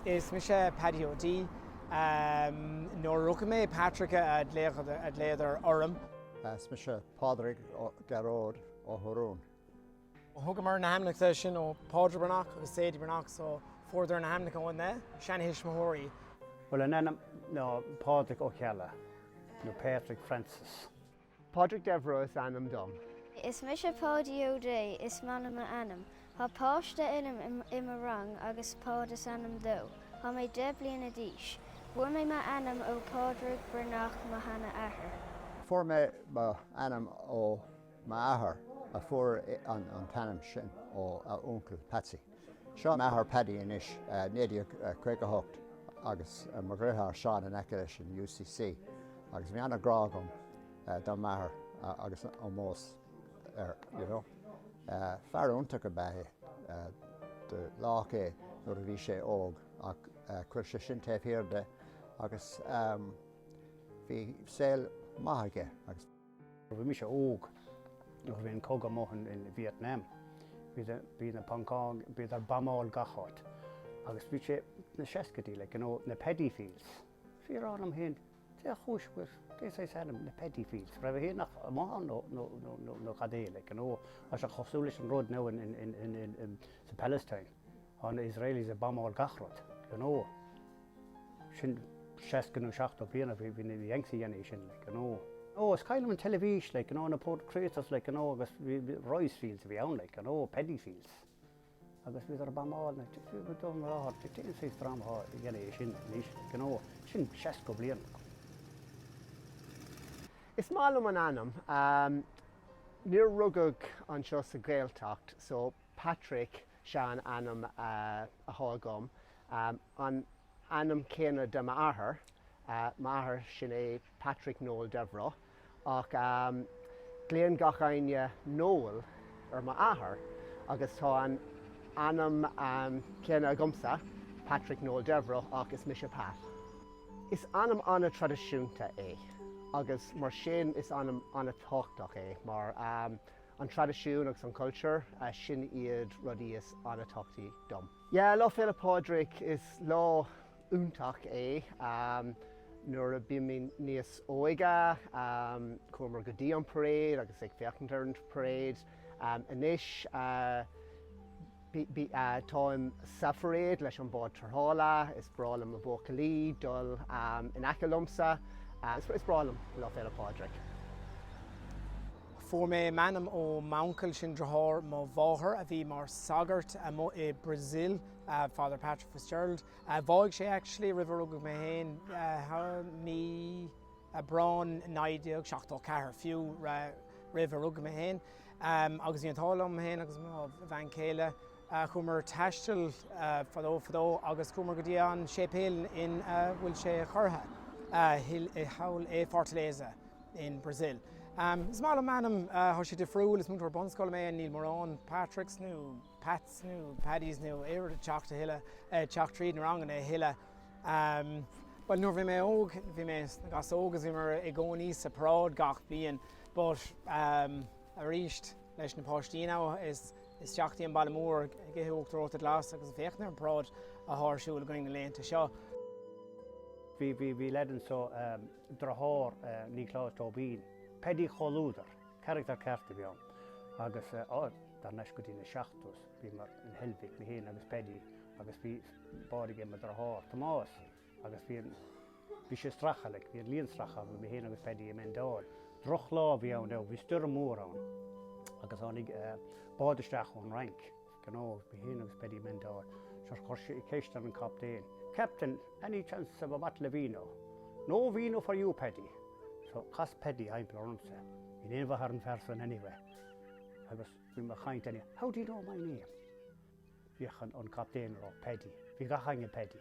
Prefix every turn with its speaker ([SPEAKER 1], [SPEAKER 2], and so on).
[SPEAKER 1] Is mise Paddy O'Dea. Nuair a rugadh mé, Patrick a glaodar orm. Is mise
[SPEAKER 2] Pádraig Gearóid Ó hOdhráin. Thugamar
[SPEAKER 1] na hainmneacha sin ó Pádraig Breathnach agus Sadie Breathnach so fuaireadar na hainmneacha óna seantuismitheoirí. Bhuel, an ainm
[SPEAKER 3] nó Pádraig Ó Ceallaigh, nó Patrick Francis.
[SPEAKER 4] Pádraig Devereux is ainm dom. Is
[SPEAKER 5] mise Páidí Ó Dé is maith liom m'ainm. Tá páiste in ann i mo rang agus Páid is ainm dó. Tá mé deich bliana d'aois. Fuair mé m'ainm ó Phádraig Breathnach mo sheanathair. Fuair
[SPEAKER 2] mé mo ainm ó m'athair a fuair an t-ainm sin ó a uncail Patsy. Seo m'athair Paddy anois, 1958, agus mo dheartháir Seán in aice leis in UCC, agus bhí an-ghrá agam dá m'athair agus ómós air, you know. Fear iontach ab ea é, do leath é nuair a bhí sé óg ach chuir sé sin taobh thiar de agus bhí saol maith aige. Bhí
[SPEAKER 3] mise óg nuair a bhí an cogadh amuigh in Vietnam. Bhí na Poncáin, bhíodar ag bombáil gach áit. Agus bhí sé sna seascaidí, like, you know, na paddy fields. Bhí mé ag rá liom fhéin, cén chúis go bhfuil cén saghas ainm na paddy fields? Raibh Éireannach amuigh ann nó nó nó nó nó cad é, like, you know. Tá sé cosúil leis an rud now in in in in in sa Palestine. Tá na Israelis ag bombáil gach rud, you know. sin 60 nó 70 bliain a bhí bhí na Yanks ag déanamh sin like you know. oh is cuimhin liom ar an teilifís like you know na craters like you know agus bhí bhí rice fields a bhí ann like you know Paddy Fields agus bhíodar ag bombáil na t-t go dubh na láthair t-t cén saghas dráma atá a dhéanamh é sin anois like you know sin 60
[SPEAKER 4] bliain Is maith liom an ainm. Níor rugadh anseo sa Ghaeltacht so. Patrick sea an ainm athá agam, an ainm céanna le m'athair, m'athair sin é Patrick Noel Devereux, ach glaonn gach éinne Noel ar mo athair agus tá an ainm céanna agamsa, Patrick Noel Devereux, ach is mise Pat. Is ainm an-traidisiúnta é agus mar sin is ainm an-tábhachtach é mar. An traidisiún agus an cultúr, sin iad rudaí is an-tábhachtaí dom. Yeah, Lá Féile Pádraig, is lá iontach é. Nuair a bhí mé níos óige, chuamar go dtí an parade agus ag féachaint ar an parade. Anois. Táim sa pharáid leis an bád tarrthála. Is breá liom na buachaillí dul in aice liomsa. Is breá liom Lá Féile Pádraig.
[SPEAKER 1] Fuair mé m'ainm ó m'uncail, sin driotháir mo mháthar, a bhí mar sagart amuigh i Brazil, Father Patrick Fitzgerald. Bháigh sé actually roimh a rugadh mé féin. Mí. Aibreán 1974, fiú roimh a rugadh mé féin. Agus bhí an t-ádh liom féin agus mo bhean chéile, chuamar taisteal fadó fadó agus chuamar go dtí an séipéal in a bhfuil sé curtha, thall i Fortaleza in Brazil. Is maith liom m'ainm, tá sé difriúil, is múinteoir bunscoile mé, níl mórán Patricks nó Pats nó Paddys nó aon rud ag teacht a thuilleadh, teacht tríd na ranganna a thuilleadh. Bhuel, nuair a bhí mé óg, bhí mé sna Gasóga agus bhíomar i gcónaí sa paráid gach bliain but arís leis na páistí ann is isteach dtí an baile mór ag ithe uachtar reoite glas agus ag féachaint ar an bparáid atá ar siúl againn na laethanta
[SPEAKER 3] seo. Bhí lead anseo, deartháir Niocláis Tóibín, Paddy, comhluadar, carachtar ceart a bhí ann agus thar n-ais go dtí na seachtóidí bhíomar in Heilbhic, mé fhéin agus Paddy agus bhí bád ag mo dheartháir Tomás agus bhí an, bhí sé stractha like, bhí an líon stractha againn, mé féin agus Peaidí ag mendáil. Droch lá a bhí ann, bhí stoirm mhór ann agus tháinig bád isteach ón Fhrainc, bhí mé féin agus Peaidí ag mendáil, so chuir sé ceist ar an captaen, Captain, any chance of a bottle of vino? No vino for you Peaidí! So chas Peaidí timpeall ormsa, you never heard a person anyway, agus bhí mé ag caint air, How do you know my name? Bhí aithne ag an captaen ar Paddy. Bhí gach éinne Paddy.